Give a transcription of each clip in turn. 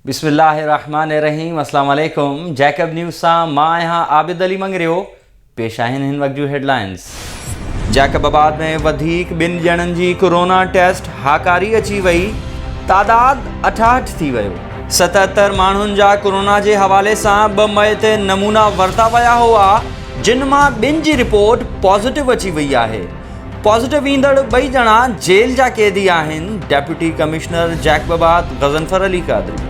بسم الله الرحمن الرحيم السلام عليڪم جيڪب نيوز سان مان آهيان عابد علي مڱريو پيش آهن هن وقت جون هيڊلائنز جيڪب آباد ۾ وڌيڪ ٻن ڄڻن جي ڪورونا ٽيسٽ هاڪاري اچي وئي تعداد اٺاهٺ ٿي ويو ستهتر ماڻهن جا ڪورونا جي حوالي سان ٻه مئي تي نمونا ورتا ويا هئا جن مان ٻن جي رپورٽ پازيٽو اچي وئي آهي پازيٽو ايندڙ ٻئي ڄڻا جيل جا قيدي آهن، deputy commissioner Jacobabad Ghazanfar Ali Qadri.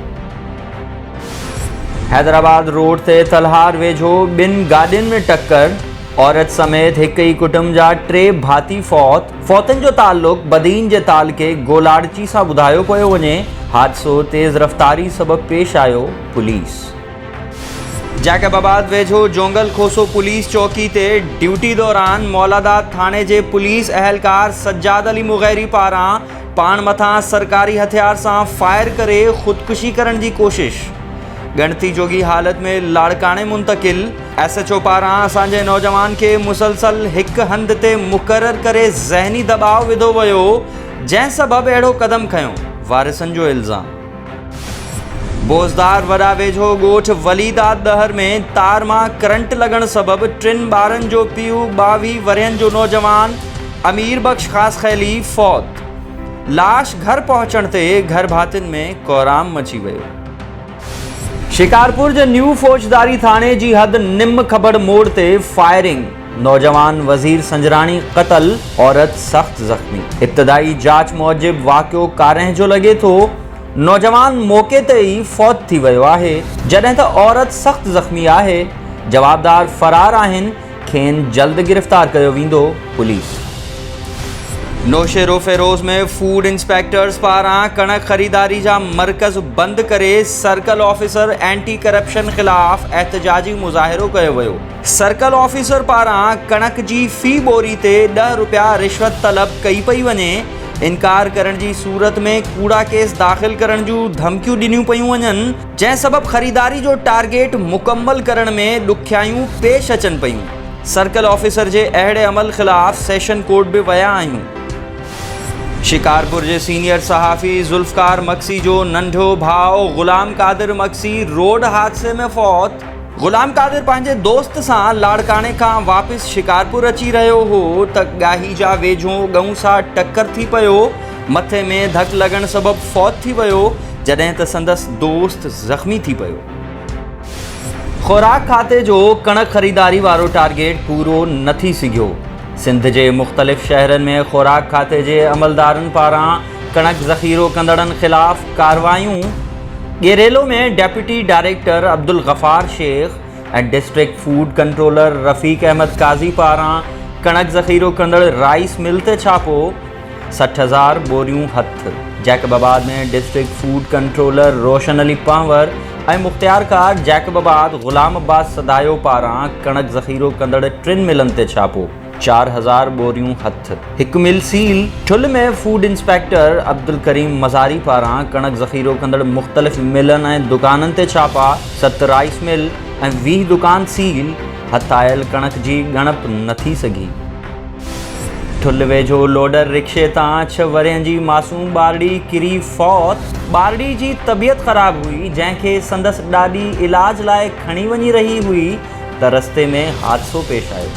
Hyderabad road تي تلهار ويجهو ٻن گاڏين ۾ ٽڪر، عورت سميت هڪ ئي ڪٽنب جا ٽي ڀاتي فوت، فوتن جو تعلق بدين جي تعلقي گولاڙچي سان ٻڌايو پيو وڃي، حادثو تيز رفتاري سبب پيش آيو، پوليس. جيڪب آباد ويجهو جونگل کوسو پوليس چوڪي تي ڊيوٽي دوران مولاداد ٿاڻي جي پوليس اهلڪار سجاد علي مغيري پاران پاڻ مٿان سرڪاري هٿيار سان فائر ڪري خودڪشي ڪرڻ جي ڪوشش ڳڻتي جوڳي حالت ۾ لاڙڪاڻي منتقل ايس ايچ او پاران اسان جي نوجوان کي مسلسل هڪ هنڌ تي مقرر ڪري ذهني دٻاء وڌو ويو جنهن سبب اهڙو قدم کنيو وارثن جو الزام بوزدار وڏا ويجهو ڳوٺ وليداد ڏهر ۾ تار مان ڪرنٽ لڳڻ سبب ٽن ٻارن جو پيء ٻاويهه ورهين جو نوجوان امير بخش خاصخيلي فوت، لاش گهر پهچڻ تي گهر ڀاتين ۾ ڪورام مچي ويو. شڪارپور جي نيو فوجداري ٿاڻي جي حد نم کبڙ موڙ تي فائرنگ، نوجوان وزير سنجراڻي قتل، عورت سخت زخمي، ابتدائي جاچ موجب واقعو ڪارنهن جو لڳي ٿو، نوجوان موقعي تي ئي فوت ٿي ويو آهي، جڏهن ته عورت سخت زخمي آهي، جوابدار فرار آهن، کين جلد گرفتار ڪيو ويندو، پوليس. نوشهروفيروز ۾ فوڊ انسپيڪٽرز پاران ڪڻڪ خريداري جا مرڪز بند ڪري سرڪل آفيسر اينٽي ڪرپشن خلاف احتجاجي مظاهرو ڪيو ويو. سرڪل آفيسر پاران ڪڻڪ جي في ٻوري تي ڏهه رپيا رشوت طلب ڪئي پئي وڃي، انڪار ڪرڻ جي صورت ۾ ڪوڙا ڪيس داخل ڪرڻ جون ڌمڪيون ڏنيون پيون وڃن، جنهن سبب خريداري جو ٽارگيٽ مڪمل ڪرڻ ۾ ڏکيائيون پيش اچن پيون، سرڪل آفيسر جي اهڙي عمل خلاف سيشن ڪورٽ به ويا آهيون. شڪارپور جي سينيئر صحافي ذوالفقار مگسي جو ننڍو ڀاء غلام قادر مگسي روڊ حادثي ۾ فوت، غلام قادر پنهنجي دوست سان لاڙڪاڻي کان واپس شڪارپور اچي رهيو هو ته ڳاهي جا ويجهو ڳئون سان ٽڪر ٿي پيو، مٿي ۾ ڌڪ لڳڻ سبب فوت ٿي ويو، جڏهن ته سندس دوست زخمي ٿي پيو. خوراڪ کاتي جو ڪڻڪ خريداري وارو ٽارگيٽ پورو نه ٿي سگهيو، سنڌ جي مختلف شهرن ۾ خوراڪ کاتي جي عملدارن پاران ڪڻڪ ذخيرو ڪندڙن خلاف ڪارروايون، Gerelo ۾ deputy director Abdul Ghaffar Shaikh ۽ district food controller Rafiq Ahmed Qazi پاران ڪڻڪ ذخيرو ڪندڙ رائيس مل تي ڇاپو، سٺ هزار ٻوريون هٿ. Jacobabad ۾ district food controller Roshan Ali Panhwar ۽ مختيارڪار جيڪب آباد غلام عباس سدايو پاران ڪڻڪ ذخيرو ڪندڙ ٽن ملن تي ڇاپو، چار هزار ٻوريون هٿ هڪ mill seal Thul ۾ food inspector Abdul Karim Mazari پاران ڪڻڪ ذخيرو ڪندڙ مختلف ملن ۽ دڪانن تي ڇاپا ست رائيس مل ۽ ويهه دڪان سيل هٿ آيل ڪڻڪ جي ڳڻپ نه ٿي سگهي ٺل ويجهو لوڊر رڪشي تان ڇهه ورهين جي معصوم ٻارڙي ڪري فوت ٻارڙي جي طبيعت خراب هئي جنهن کي سندس ڏاڏي علاج لاء کڻي وڃي رهي هئي ته رستي ۾ حادثو پيش آيو.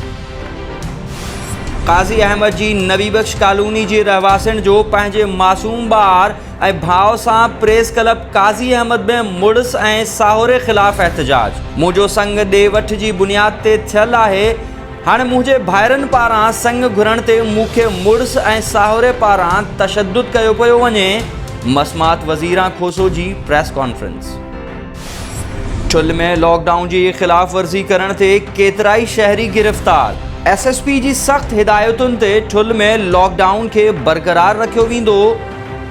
قاضي احمد جي نبي بخش ڪالوني جي رهواسين جو پنهنجي معصوم ٻار ۽ ڀاء سان پريس ڪلب قاضي احمد ۾ مڙس ۽ ساهوري خلاف احتجاج، منهنجو سڱ ڏي وٺ جي بنياد تي ٿيل آهي، هاڻي منهنجي ڀائرن پاران سڱ گهرڻ تي مون کي مڙس ۽ ساهوري پاران تشدد ڪيو پيو وڃي، مسمات وزيران کوسو جي پريس ڪانفرنس. چل ۾ لاڪ ڊائون جي خلاف ورزي ڪرڻ تي ڪيترائي شهري گرفتار، ايس ايس پي جي سخت هدايتن تي چل ۾ لاڪ ڊائون کي برقرار رکيو ويندو،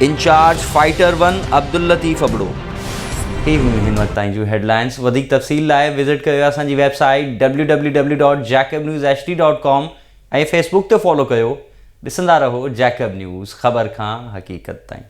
incharge fighter one Abdul Latif Abro. هي هيون هن وقت تائين جون هيڊلائنز وڌيڪ تفصيل لاء وزٽ ڪيو اسان جي website W W W dot Jacob news H D dot com ۽ Facebook تي فالو ڪيو ڏسندا رهو جيڪب نيوز خبر کان حقيقت تائين.